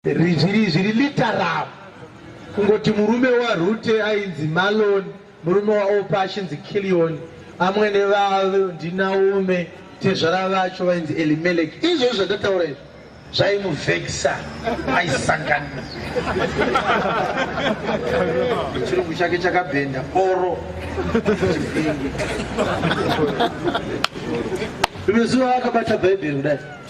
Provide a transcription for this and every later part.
Rizviri zviri literal kungoti murume waRute ainzi Maloni, murume waOpa achinzi Kilioni, amwene vavo ndiNaume, tezvara vacho vainzi Elimeleki. Izvozvo zvandataura izvo zvaimuvhekisa aisangana chirungu chake chakabhenda oro rimwe zuva akabata bhaibheri kudai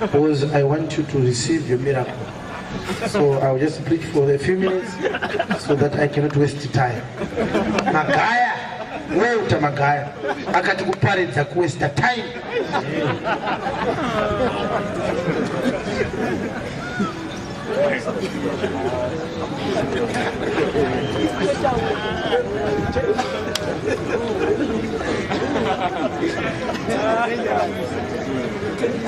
Because I want you to receive your miracle. So I'll just preach for a few minutes so that I cannot waste time. Magaya, wewe uta magaya. Akati kuparidza ku waste time.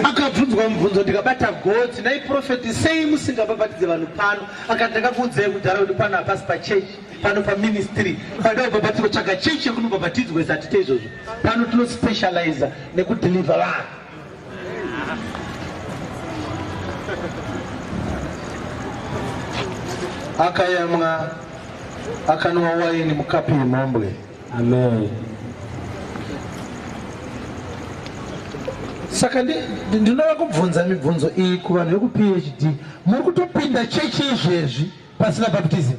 akabvunzwa mubvunzo ndikabata gotsi nhai profeti sei musingabhabhatidze vanhu pano akati ndakakuudzai kudhara kuti pano hapasi pachechi pano paministry panoda kubhabhatidzwa tsvaga chechi yekunobhabhatidzwa izatite izvozvo pano tinospecializa nekudhilivha vanhu akayamwa akanwa waini mukapi yemhombwe amen saka ndinoda kubvunza mibvunzo iyi kuvanhu vekuphd muri kutopinda chechi izvezvi Pasina baptism.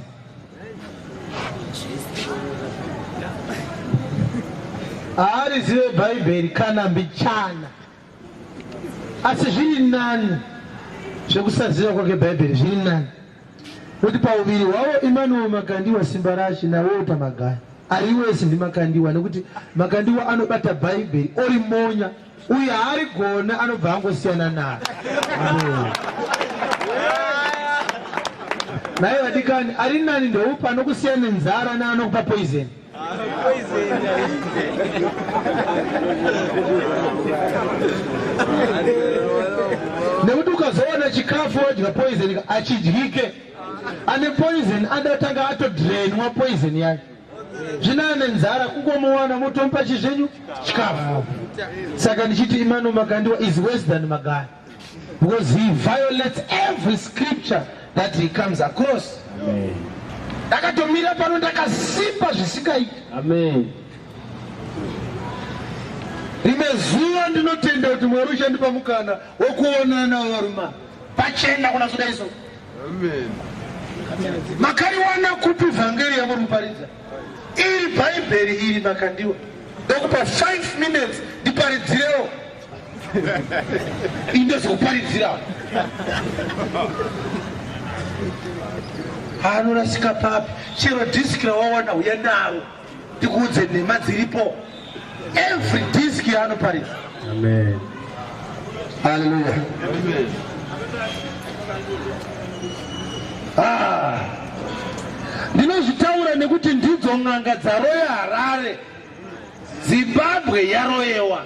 Haarizive Bhaibheri kana mbichana. Asi zviri nani zvekusaziva kwake Bhaibheri zviri nani. Kuti pauviri hwavo Emmanuel Makandiwa simba rachi naWalter Magaya. Ari wese ndiMakandiwa nekuti Makandiwa anobata Bhaibheri orimonya. uyu haarigona anobva angosiyana naro naye vadikani ari nani ndoupi anokusiya nenzara naanokupa poison nekuti ukazoona chikafu odya poison achidyike ane poison ada kutanga atodrenwa poison yake zvino ane nzara kungomuwana motomupa chi zvenyu chikafu saka ndichiti imano magandiwa is worse than magaya because he violates every scripture that he comes across ndakatomira pano ndakasimba zvisikaiti rimwe zuva ndinotenda kuti mwari uchandipa mukana wokuonana varuma pachena kuna zudaiso Amen. Makariwana kupi vhangeri yamuri kuparidza? Iri Bhaibheri iri makandiwa. Ndokupa 5 minutes ndiparidzirewo. Indozokuparidzira. Anorasika papi? Chero disk rawawana uya naro. tikuudze nhema dziripo every disk yaanoparidza amen haleluya ah. ndinozvitaura nekuti ndidzo n'anga dzaroya harare zimbabwe yaroyewa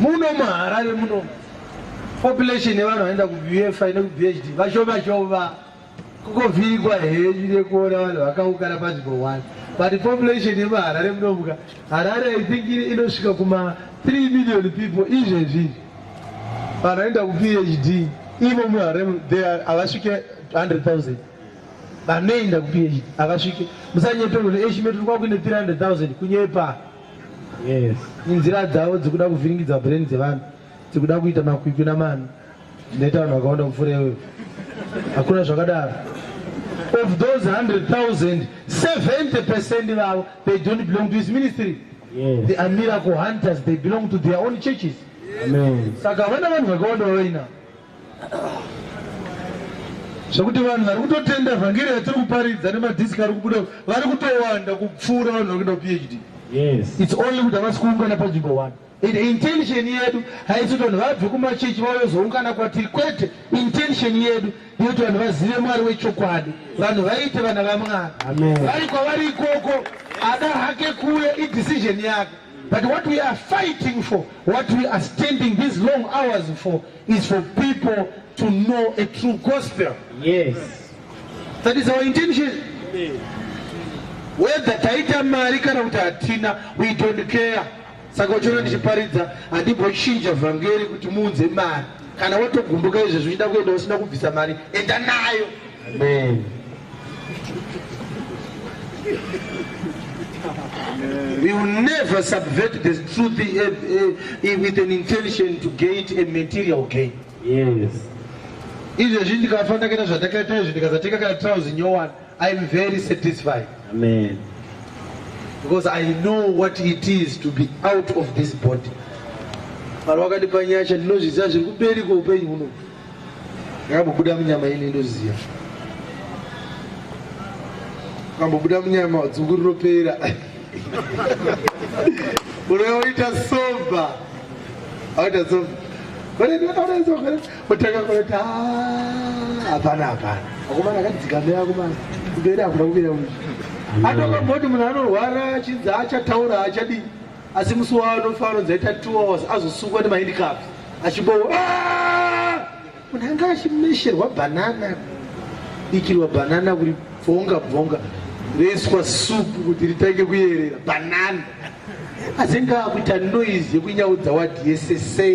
muno muharare muno population yevanhu vaenda kubfa nekubhd vashoma shoma kukovhirikwa henyu nekuona vanhu vakaukana panzvimbo one but population yemuharare munomuka harare i think inosvika kuma 3 million people izvezvi vanhu vaenda kuphd imo muharare havasvike 100 000 vanoenda kuphd havasvike musanyeperwe kuti eshime tiri kwakuine 300000 kunyepa yes inzira dzavo dzikuda kuvhiringidza brain dzevanhu dzikuda kuita makwikwi namani ndaita vanhu vakawanda kupfuura iweyo hakuna zvakadaro of those 100000 70 percent vavo they don't belong to his ministry yes. they are miracle hunters they belong to their own churches saka havana vanhu vakawanda vavainavo zvekuti vanhu vari kutotenda vhangeri yatiri kuparidza nemadhiski ari kubuda vari kutowanda kupfuura vanhu vari kuenda phd yes. its only kuti havasi kuungana panzvimbo one and intention yedu haisi kuti vanhu vabve kumachechi vayozoungana kwatiri kwete intention yedu yekuti vanhu vazive mwari wechokwadi vanhu vaite vana vamwari vari kwavari ikoko ada hake kuya idecision yake but what we are fighting for what we are standing these long hours for is for people to know a true gospel yes that is our intention whether taita mari kana kuti hatina we don't care saka uchiona ndichiparidza handimbochinja vhangeri kuti muunze mari kana watogumbuka izvezvi uchida kuenda usina kubvisa mari enda nayo Amen. We will never subvert the truth eh, eh, eh, with an intention to get a material gain. Yes. izvezvi ndikafa ndakaita zvandakaita izvi ndikazatenga kana trouse nyowani i am very satisfied amen because i know what it is to be out of this body mwari wakandipa nyasha ndinozviziva zviri kuberiko upenyu huno Yakambobuda munyama ini ndoziva. Kambobuda munyama dzungu rinopera. Unoita sober. Aita sober. Kore ndakaona sober. Utaka kore ta. Hapana hapana. Akomana akadzikamira akomana. Kubera akuna kubira uyu. Atoka mboti munhu anorwara chinzi achataura achadii. asi musi waanofa anonzi aita two hours azosungwa nemahandicraft achibowa ah! munhu anga achimesherwa bhanana ikirwa bhanana kuri bvonga bvonga roiswa supu kuti ritange kuyerera bhanana asi ngakuita noise yekunyaudza wadsa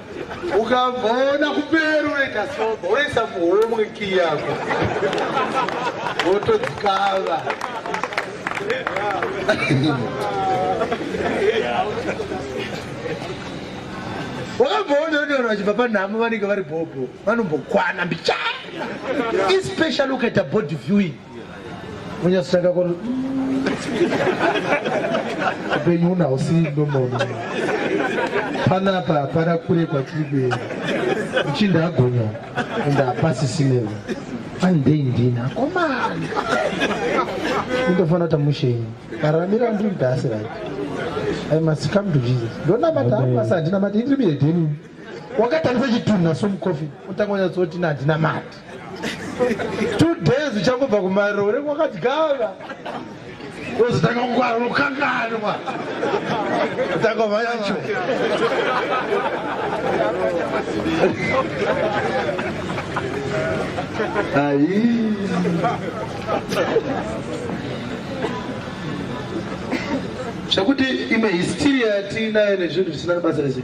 ukabvaona kuperu unoita soba unoisa muhomwe kii yako wotodzikava wakabvaona kuti vanhu vachibva panhamo vanenge vari bhobho vanombokwana mbicha especially ukaita body viewing Munyasitanga ko upenyu una usi ndomono panapa hapana kure kwatiri kuenda uchinda agonya and hapasisinevo andei ndini akomana indofanira tamushenyi araramira ndiri mdasi right i must come to jesus ndonamata hapasi handinamata indiri mihedheni wakatarisa chitunha somucoffin otanga unyatsoti ina handina mari two days uchangobva kumarore kwakadyava ozotanga kungwara unokanganwa otanga va yacho ayi zvekuti imwe histiri yatiinayo nezvinhu zvisina nebasa rese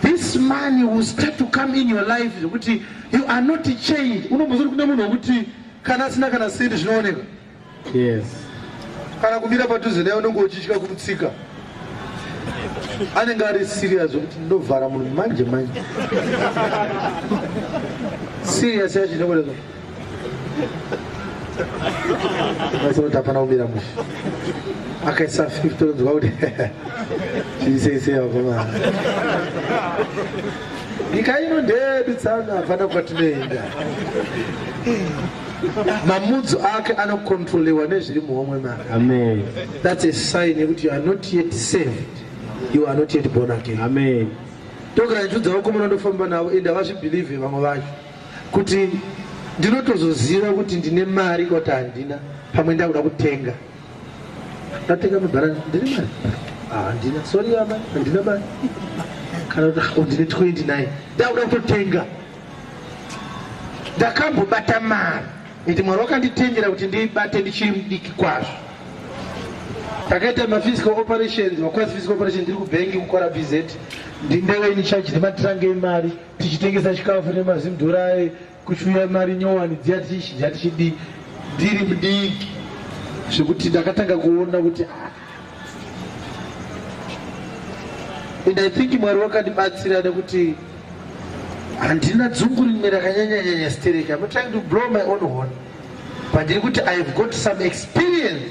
This man will start to come in your life zvekuti you are not changed. Unombozoti kune munhu wekuti kana asina kana sendi zvinooneka. Yes. Kana kumira padhuze naye unenge uchitya kumutsika. Anenge ari serious zvekuti ndovhara munhu manje manje. Serious yacho inokuda Maisoti hapana kumira mushe. Akaisa 50 tonzwa kuti chiisei akomana. Nyika ino ndeyedu tsanga hapana kwatinoenda. mamudzo ake anokontrolewa nezviri muhomwe mako amen that's a sign yekuti you are not yet saved you are not yet born again amen tokandichudza vakomana ndofamba navo ende havazvibhilivhe vamwe vacho kuti ndinotozoziva kuti ndine mari kuti handina pamwe ndakuda kutenga ndatenga mabhara ndine mari ah, handina sori vama handina mari kana kuti ah, ndine 29 ndakuda kutotenga ndakambobata mari iti mwari wakanditengera kuti ndibate ndichiri mudiki kwazvo takaita maphysical operations wakwazi physical operation ndiri kubhengi kukora bz ndindewe in charge nematrange emari tichitengesa chikafu nemazimdhorai kuchiuya mari nyowani dziya tichishija tichidii ndiri mudiki zvekuti ndakatanga kuona kuti ah. and i think mwari wakandibatsira nekuti handina dzungu rimwe rakanyanyanyanya stereki am trying to blow my own horn but ndiri kuti i have got some experience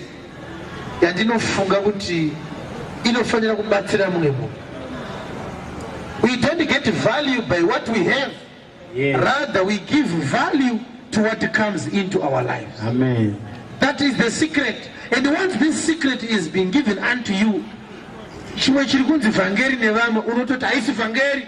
yandinofunga kuti inofanira kubatsira mumwe munhu we don't get value by what we have yes. rather we give value to what comes into our lives Amen. that is the secret and once this secret is being given unto you chimwe chiri kunzi vhangeri nevamwe unototi haisi vhangeri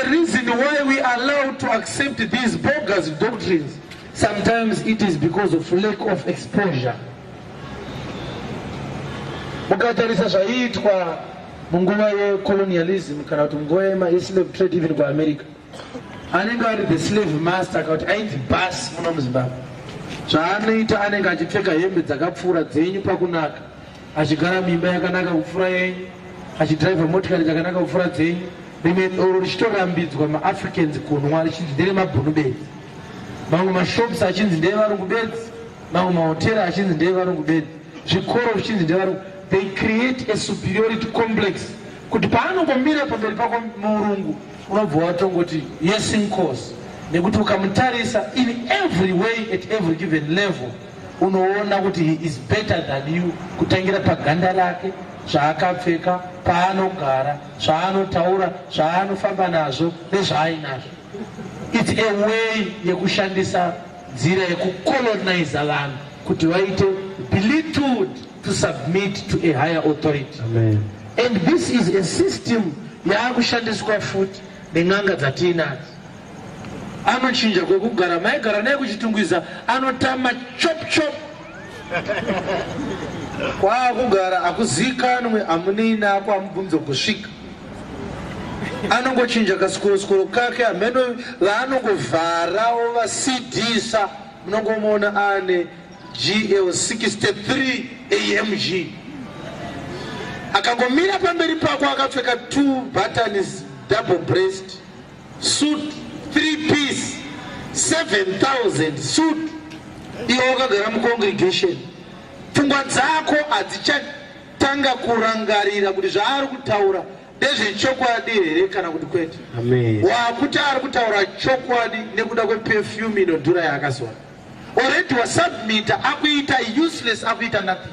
The reason why we are allowed to accept these bogus doctrines sometimes it is because of lack of exposure. Mukatarisa zvaiitwa munguva yecolonialism kana kuti munguva yemaslave trade even kuamerica anenge ari the slave master kana kuti ainzi bas muno muzimbabwe zvaanoita anenge achipfeka hembe dzakapfuura dzenyu pakunaka achigara mimba yakanaka kupfuura yenyu achidriver motikari dzakanaka kupfuura dzenyu rimwe doro richitorambidzwa maafricans kunwa richinzi nderemabhunu bedzi mamwe mashops achinzi ndeevarungu bedzi mamwe mahotera achinzi ndeevarungu bedzi zvikoro zvichinzi ndevarungu they create a superiority complex kuti paanongomira pamberi pako murungu unobva watongoti yes incourse nekuti ukamutarisa in every way at every given level unoona kuti he is better than you kutangira paganda rake zvaakapfeka paanogara zvaanotaura zvaanofamba nazvo nezvaainazvo its a way yekushandisa nzira yekucoloniza vanhu kuti vaite belittled to submit to a higher authority Amen. and this is a system yaakushandiswa futi nen'anga dzatiinadzo anochinja kwekugara maigara naye kuchitungwiza anotama chop chop kwaakugara akuzikanwe amunei nako amubvunzo kusvika anongochinja kasikorosikoro kake amheno vaanongovharawo vasidisa munongomuona ane gl 63 amg akangomira pamberi pako akapfeka two buttons double breast Suit 3 piece 7000 suit iwe wakagara mucongregation pfungwa dzako hadzichatanga kurangarira kuti zvaari kutaura ndezvechokwadi here kana kuti kwete wakuti ari kutaura chokwadi nekuda kwepefyume inodhura yaakazora already wasubmita akuita useless akuita nothing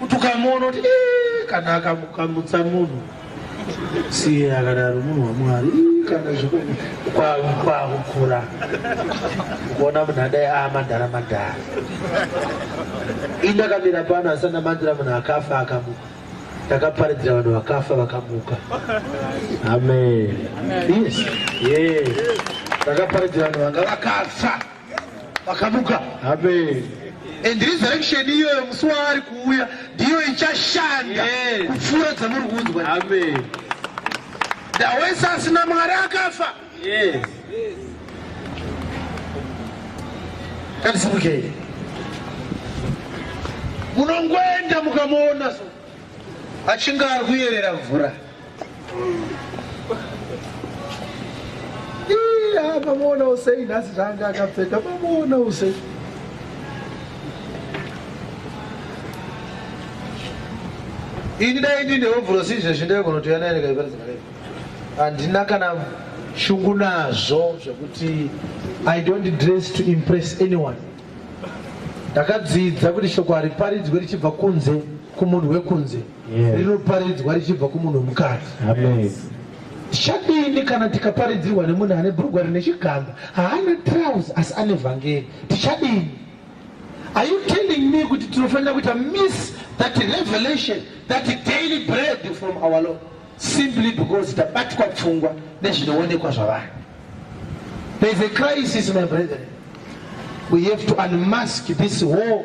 Kuti ukamuona kuti "Ii, kana akamukamutsa munhu siye akadaro munhu wamwari "Ii, kana zveku- kwa- kwakukura kuona munhu adai a madhara madhara indakamira pano asi ndamandira munhu akafa akamuka ndakaparidzira vanhu vakafa vakamuka amen yes yes ndakaparidzira vanhu vanga vakafa vakamuka amen and resurrection iyoyo musi waari kuuya ndiyo ichashanda kupfuura dzamuri kunzwa amen ndawese asina mwari akafa yes katisimukei munongoenda mukamuona so achinge ari kuyerera mvura mamuonawo sei nhasi zvaanga akapfeka mamuonawo sei ini dai ndine hovhurosi izvezvi ndaigonotoya naye ndikaiparizana naye handina kana shungu nazvo zvekuti i don't dress to impress anyone ndakadzidza kuti shoko hariparidzwe richibva kunze kumunhu wekunze yeah. rinoparidzwa richibva kumunhu wemukadzi tichadini kana tikaparidzirwa nemunhu ane bhurugwa rine chigamba haana trouse asi ane vhangeri tichadini are you telling me kuti tinofanira kuita miss that revelation that daily bread from our lord simply because tabatwa pfungwa nezvinoonekwa zvavanhu there's a crisis my brethren we have to unmask this war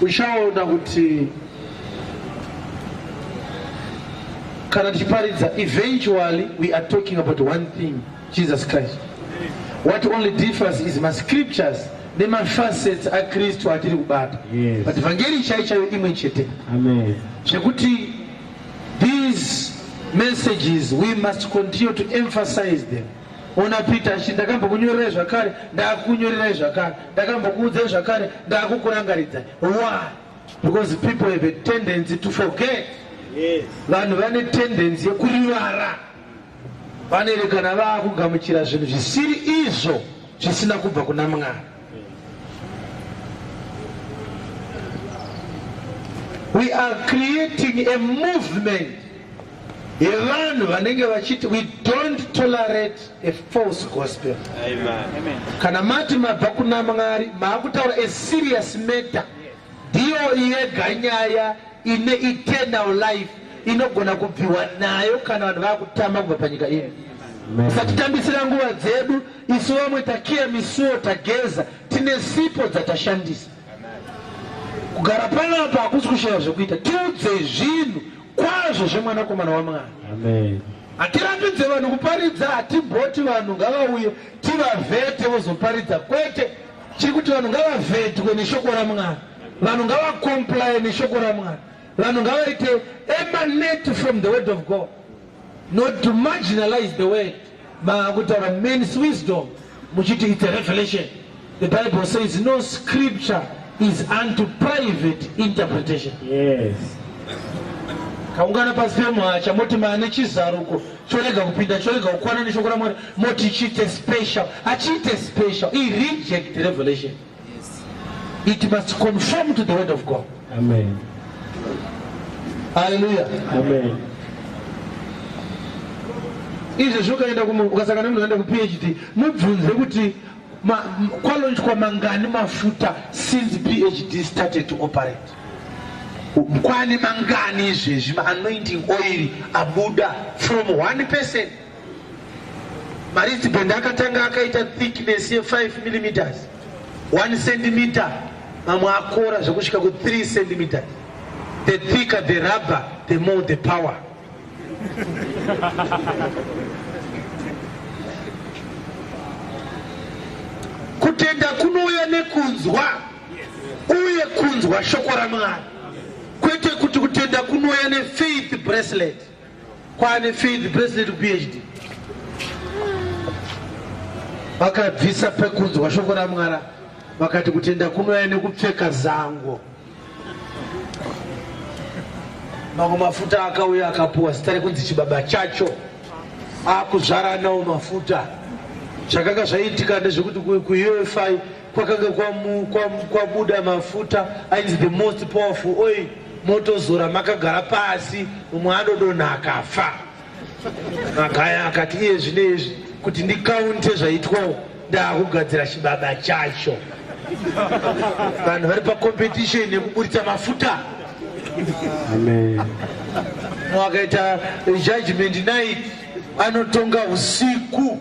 uchaona kuti kana tichiparidza eventually we are talking about one thing jesus christ what only differs is mascriptures nemafacets akristu atiri kubata yes. but vhangeri chai chayo imwe chete zvekuti these messages we must continue to emphasize them ona peter achi ndakambokunyorerai zvakare ndakunyorerai zvakare ndakambokuudzai zvakare ndakukurangaridza why because people have a tendency to forget vanhu vane tendency yekurivara vanoerekana vakugamuchira zvinhu zvisiri izvo zvisina kubva kuna mwari we are creating a movement yevanhu vanenge vachiti we don't tolerate a false gospel Amen. kana mati mabva kuna mwari maakutaura a serious matter ndiyo yega nyaya ine eternal life inogona kubviwa nayo kana vanhu vakutama kubva panyika ino satitambisira nguva dzedu isu vamwe takiya misuwo tageza tine sipo dzatashandisa kugara panapa hakusi kushaya zvekuita tiudze zvinhu Kwazvo zvemwanakomana waMwari. Amen. Hatirambidze vanhu kuparidza, hatiboti vanhu ngavauye tivavhete vozoparidza kwete. Chiri kuti vanhu ngavavhetwe neshoko raMwari. Vanhu ngavakomplaye neshoko raMwari. Vanhu ngavaite emanate from the word of God not to marginalize the word. Makutaura men's wisdom muchiti it's a revelation. The Bible says no scripture is unto private interpretation. Yes. kaungana pasi pemwacha moti maane chizaruko chorega kupinda chorega kukwana neshoko ramwari moti chiite special achiite special ireject revelation It must conform to the word of God. Amen. Hallelujah. Amen. Izvo zvokaenda kumu ukasangana munhu aenda ku PhD mubvunze kuti ma, kwalonjwa mangani mafuta since PhD started to operate. Kwani mangani izvezvi ma anointing oil abuda from one person Maristband akatanga akaita thickness ye 5 mm 1 cm mamwe akora zvekusvika ku 3 cm the thicker the rubber the more the power kutenda kunouya nekunzwa uye kunzwa shoko ramwari kwete kuti kutenda kunouya nefaith bracelet Kwane field president PhD vakabvisa pekunzwa shoko ramwara vakati kutenda kunouya nekupfeka zango mamwe mafuta akauya akapuwa zita rekunzi chibaba chacho akuzvaranawo mafuta zvakanga zvaiitika ndezvekuti kuufi kwakanga kwamu- kwamu- kwabuda mafuta ainzi the most powerful oil motozora makagara pasi umwe anodonha akafa magaya akati iye zvine izvi kuti ndikaunte zvaitwawo ndaakugadzira chibaba chacho vanhu vari pacompetition yekuburitsa mafuta Amen. wakaita judgment night anotonga usiku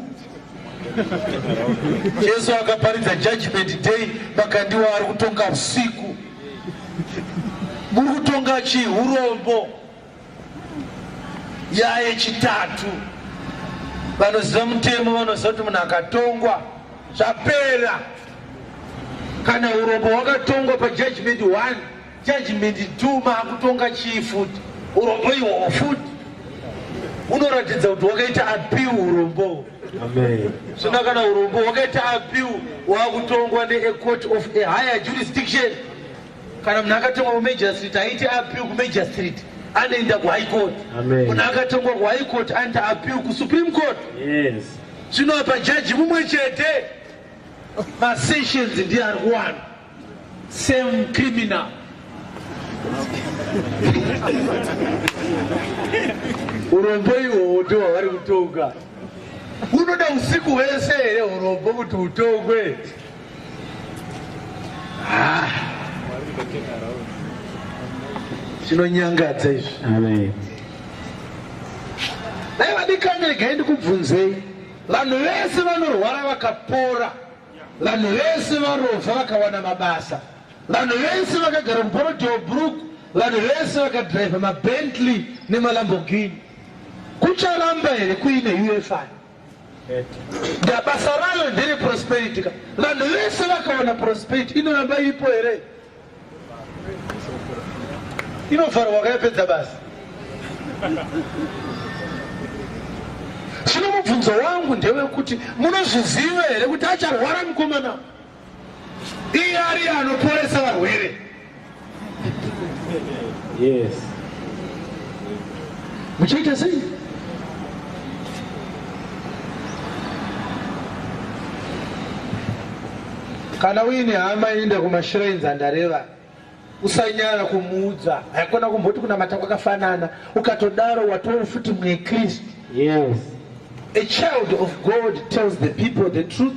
Jesu akaparidza judgment day makandiwa ari kutonga usiku. Muri kutonga chii? Hurombo. Nyaya yechitatu, vanoziva mutemo vanoziva kuti munhu akatongwa zvapera. Kana hurombo hwakatongwa pajudgment one Judgment do maakutonga chii futi urombo ihoho futi unoratidza kuti wakaita apiu urombo zvina kana urombo wakaita apiu waakutongwa neacourt of a higher jurisdiction kana munhu akatongwa kumajastrit aiti apiu kumajastrit anoenda kuhigh court munhu akatongwa kuhigh court anoita apiu kusupreme court zvinoapa jaji mumwe chete masessions ndiye ari kuwana Same criminal. Urombo iwowo ndiwo wavari kutonga. Unoda usiku hwese here urombo kuti utongwe? Ah. Chinonyangadza izvi. Amen. Dai vadikani regai ndikubvunzei. Vanhu vese vanorwara vakapora. Vanhu vese varovha vakawana mabasa. Vanhu vese vakagara muBorrowdale Brook, vanhu vese vakadriver maBentley nemaLamborghini. Kucharamba here kuine UFI? Da basa rayo ndere prosperity ka. Vanhu vese vakawana prosperity inoramba iripo here? inovharwa wakayapedza basi zvino mubvunzo wangu ndewekuti munozviziva here kuti acharwara mukomana iye ariye anoporesa varwere yes muchaita sei Kana uine hama inoenda kumashrines andareva usanyara kumuudza haikona kumboti kunamata kwakafanana ukatodaro watoo futi mwe kristu yes a child of god tells the people the truth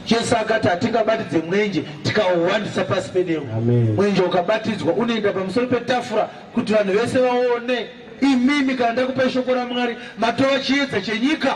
jesu akati hatingabatidze mwenje tikauwandisa pasi pedemo mwenje ukabatidzwa unoenda pamusoro petafura kuti vanhu vese vaone imimi kana ndakupai shoko ramwari matova chiedza chenyika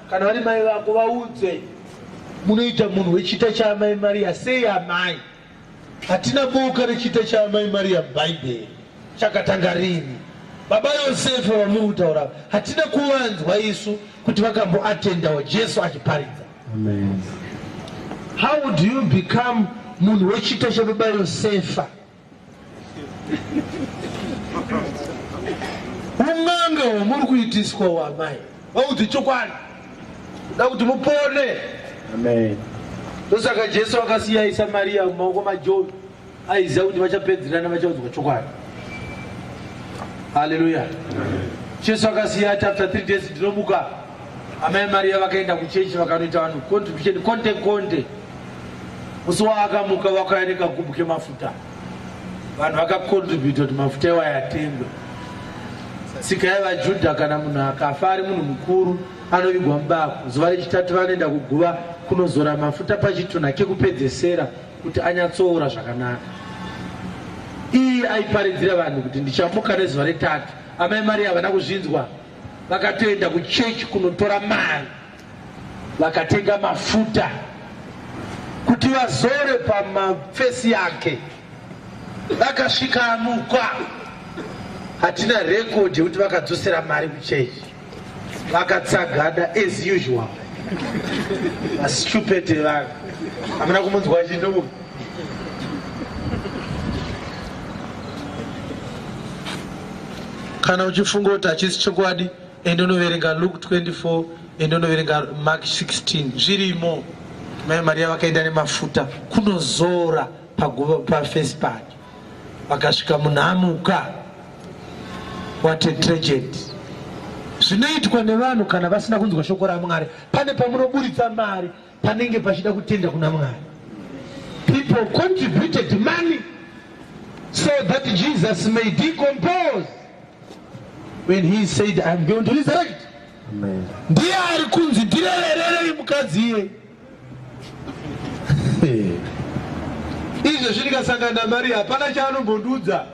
Kana vari mai vako vaudze munoita munhu wechita chaamai Maria sei amai? Hatina boka rechita chaamai Maria muBhaibheri. Chakatanga rini? Baba Yosefa vamuri kutaura hatina kuvanzwa isu kuti vakamboatendawo Jesu achiparidza. Amen. How do you become munhu wechita chababa Yosefa? Un'anga hwamuri kuitiswa wamai vaudzi chokwadi da kuti mupone. Amen. Ndosaka Jesu akasiya Isamaria mumaoko maJohn aiziva kuti vachapedzerana vachaudzwa chokwadi. Haleluya. Jesu akasiya ati after three days ndinomuka. Amai Maria vakaenda kuchechi vakanoita vanhu contribution konde konde. Musi waakamuka wakauya nekagubhu kemafuta. Vanhu vakakontributa kuti mafuta iwayo atengwe. Tsika yevaJudha kana munhu akafa ari munhu mukuru anovigwa mubako. Zuva rechitatu vanoenda kuguva kunozora mafuta pachitunha kekupedzesera kuti anyatsoora zvakanaka. Iye aiparidzira vanhu kuti ndichamuka nezuva retatu. Amai Maria havana kuzvinzwa, vakatoenda kuchechi kunotora mari. vakatenga mafuta kuti vazore pamafesi yake vakasvika amukwa hatina rekodhi yekuti vakadzosera mari kuchechi vakatsagada as usual vastupete vaka hamuna kumunzwa chindomu kana uchifunga kuti hachisi chokwadi ende unoverenga luke 24 ende unoverenga mark 16 zvirimo mai mariya vakaenda nemafuta kunozora paguva pafesi pake vakasvika munhamuka what a tragedy zvinoitwa nevanhu kana vasina kunzwa shoko ramwari pane pamunoburitsa mari Panenge pachida kutenda kuna Mwari. People contributed money so that Jesus may decompose when he said I'm going to resurrect. Amen. Ndiye ari kunzi ndirevererei mukadzi iye. Izvezvi ndikasangana naMaria hapana chaanombondiudza.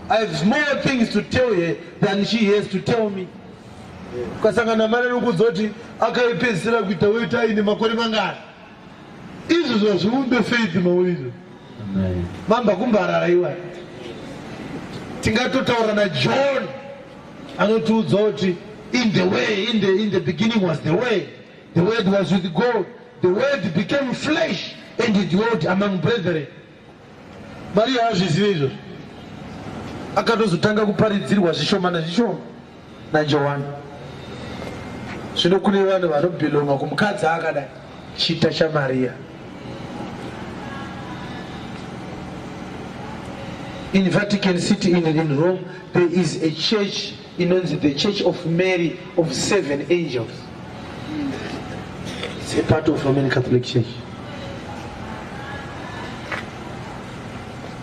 I have more things to tell her than she has to tell me. ukasangana mari rikudzoti akaipedzisira kuita wetai nemakore mangani izvo zvazviumbe faith mauizvo mamba kumbarara iwa tingatotaura najohn anotiudza kuti in the way in the, in the beginning was the way the word was with god the word became flesh and it dwelt among brethren Maria haazvizive izvozvo, akatozotanga kuparidzirwa zvishoma nezvishoma naJohani. Zvino kune vanhu vanobhilonga kumukadzi akadai, chita chaMaria. In Vatican City in, in Rome, there is a church inonzi the church of mary of seven angels its a part of roman catholic church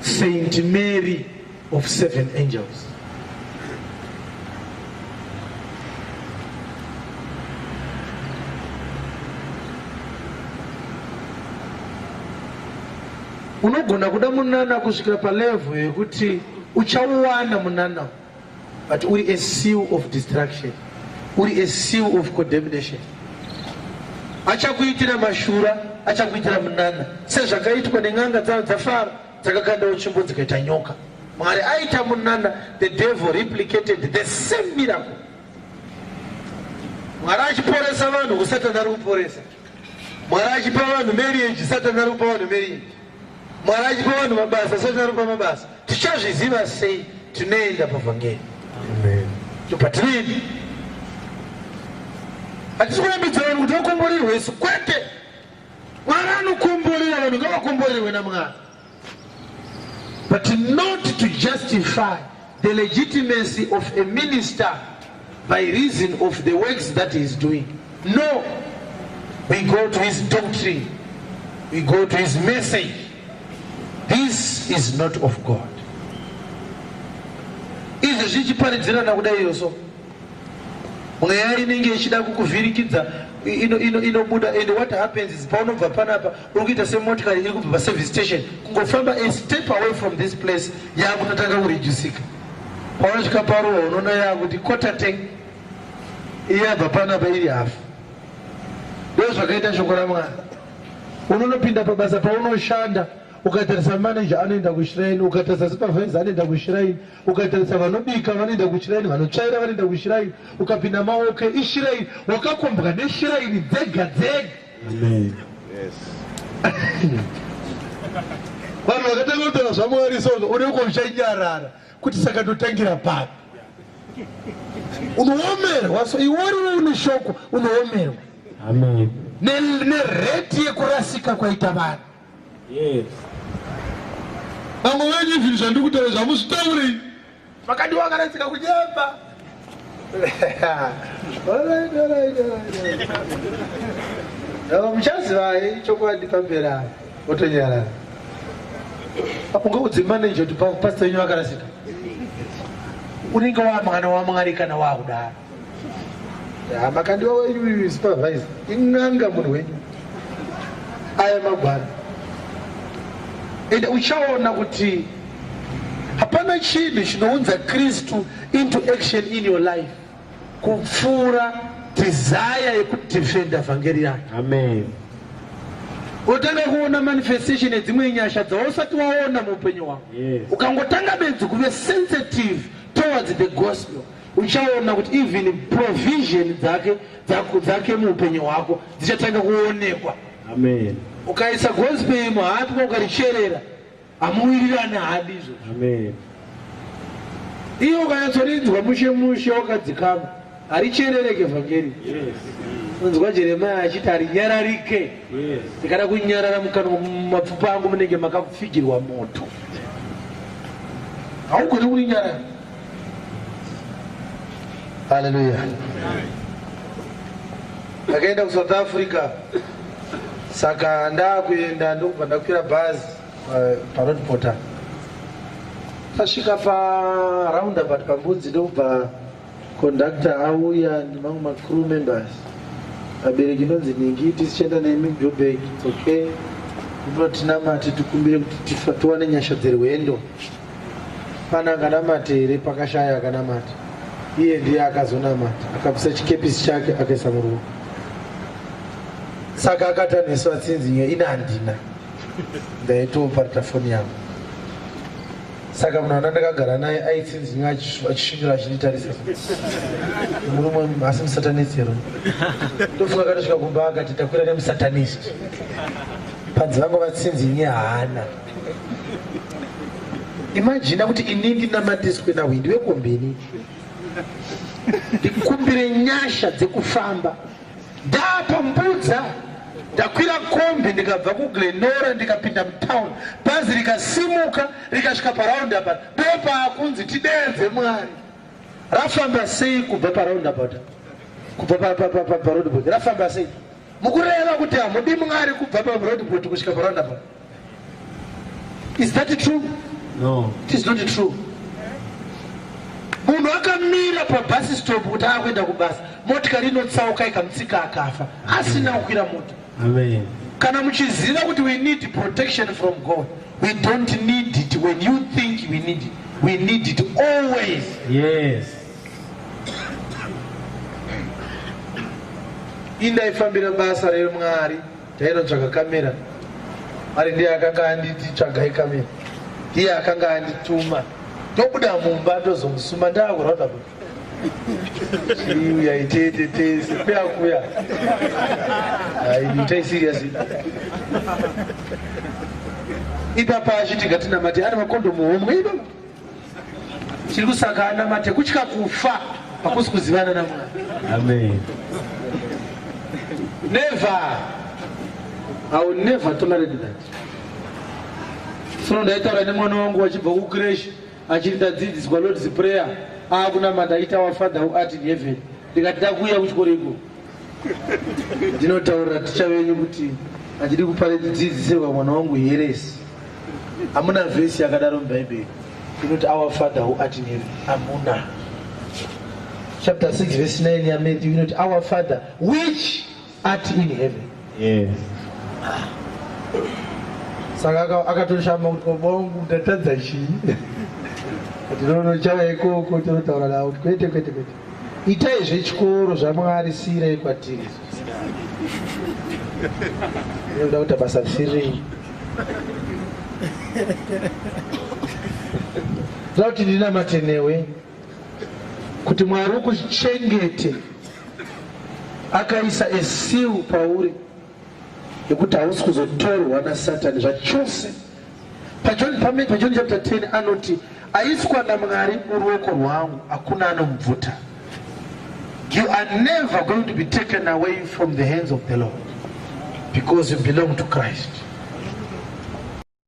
saint mary of seven angels unogona kuda munana kusvikira palevo yekuti uchauwana munana but uri a seal of distraction uri a seal of condemnation achakuitira mashura achakuitira munana sezvakaitwa nen'anga dzavo dzafara dzakakandawo tsvimbo dzikaita nyoka mwari aita munana the devil replicated the same miracle mwari achiporesa vanhu kusatana ari kuporesa mwari achipa vanhu marriage satana ari kupa vanhu marriage Mwari achipa vanhu mabasa sati aropa mabasa tichazviziva sei tinoenda pavhangeri ndopatinoenda hatisi kurambidza vanhu kuti vakomborerwe isu kwete mwari anokomborera vanhu ngavakomborerwe namwari but not to justify The legitimacy of a minister by reason of the works that he is doing. No, we go to his doctrine, we go to his message. This is not of God. Izvi zvichiparidzirana kudai yoso mweya inenge ichida kukuvhirikidza inobuda and what happens is paunobva panapa uri kuita semotikari iri kubva paservice station kungofamba a step away from this place yakunotanga kurijusika paunosvika paruwa unoona yakuti kotateng iyabva panapa iri hafu ndo zvakaita shoko ramwana unonopinda pabasa paunoshanda ukatarisa manager anoenda kushiraini ukatarisa supervisor anoenda kushiraini ukatarisa vanobika vanoenda kushiraini vanotsvaira vanoenda kushiraini ukapinda maoke ishiraini wakakombwa neshiraini dzega dzega Amen. Yes. Vanhu vakatanga kutaura zvaMwari so unenge uchanyarara kuti saka ndotangira papi? Unoomerwa so iworiwo une shoko unoomerwa. Amen. Ne ne rate yekurasika kwaita vanhu. Yes. Vamwe venyu zvinhu zvandikutaura zvamusitaurei? Makadi wakaradzika kunyemba. Alright, alright, alright. Now, muchazivai chokwadi pamberi apa otonyarara apo ngaudze manager kuti pa- pastor wenyu vakarasika unenge wamwana wamwari kana wakudaro Ah, makandiwa wenyu supervisor in'anga munhu wenyu aya magwara ende uchaona kuti hapana chinhu chinounza kristu into action in your life kupfuura tizaya yekudefenda vhangeri yayo amen otanga kuona manifestation yedzimwe nyasha dzausati waona muupenyu hwako ukangotanga bedzi kuve sensitive towards the gospel uchaona kuti even provision dzake dzako dzake muupenyu hwako dzichatanga kuonekwa amen ukaisa gospel imo hapi kwa ukaricherera hamuwirirani hadi izvo amen iyo ukanyatsorinzwa mushe mushe wakadzikama haricherereke vhangeri unzwa jeremaya achiti harinyararike ndikada kunyarara mukanwa mumapfupa angu munenge makafigirwa moto haugoni kurinyarara Haleluya. Ndakaenda ku South Africa saka ndakuenda ndokubva ndakwira bhazi eh, paroad porter tasvika paroundabout pambudzi ndokubva conductor auya nemamwe macrew members vabereki inonzi ningi tisichienda nemi joburg okay unotinamati tikumbire kuti tiwane nyasha dzerwendo Pane anganamate here pakashaya akanamata? Iye ndiye akazonamata, akabvisa chikepisi chake akaisa muruoko. Saka akatanhiswa tsinzi iyo ina handina ndaitoparita foni yangu. Saka munhu ana ndakagara naye aitsinzi iyo achisvindura achinditarisa murume asi musatanist here? Ndofunga akatosvika kumba akati takwira nemusatanist. Panzi vangu vatsinzi inye haana. imajina kuti ini ndinamatiswe nahwindi wekombeni ndikumbire nyasha dzekufamba ndapambudza ndakwira kombi ndikabva kuglenora ndikapinda mutown bhazi rikasimuka rikasvika paraundabout ndopaakunzi tideedze mwari rafamba sei kubva paraundabout kubva paroundabout rafamba sei mukureva kuti hamudi mwari kubva paroundabout kusvika paroundabout Is that true? No. It is not true. Munhu akamira pa bus stop kuti akuenda kubasa, motikari inotsauka ikamutsika akafa asina kukwira moto. Amen. Kana muchiziva kuti we need protection from God, we don't need it when you think we need it. We need it always. Yes. Indaifambira basa reMwari Tainotsvaga kamera ari ndiye akanga anditi tsvagai kamera, ndiye akanga andituma ndobuda mumba ndozomusuma ndakurauda kuti chiuya itete tese kuya kuya aitai serious ipapa achitinga tinamati ari makondomu homwe ipapo Chiri kusaka anamate kutya kufa hakusi kuzivana naMwari. Amen. Never. I will never tolerate that. Sono ndaitaura nemwana wangu wachibva kucresh achiri ndadzidziswa Lord's Prayer akunamata aita our Father who art in heaven ndikati ndakuuya kuchikoro ikoko Ndinotaurira ticha venyu kuti handidi kuparidza dzidzisirwa mwana wangu heresi. Hamuna vhesi yakadaro muBhaibheri inoti our father who art in heaven. Hamuna. Chapter 6 verse 9 yaMatthew inoti our father which art in heaven. Yes. Saka akatoshama kuti baba wangu ndatadza chii? Tinonochava ikoko tinotaura navo kuti kwete kwete kwete. Itai zvechikoro zvaMwari siirei kwatiri. Unoda kuita basa risiri. Ndoda kuti ndinamate newe kuti Mwari ukuchengete akaisa esiu pauri. nekuti hausi kuzotorwa nasatani zvachose pajoni pamene pajoni chapter 10 anoti aiswa namwari muruoko rwangu hakuna anomubvuta you are never going to be taken away from the hands of the lord because you belong to christ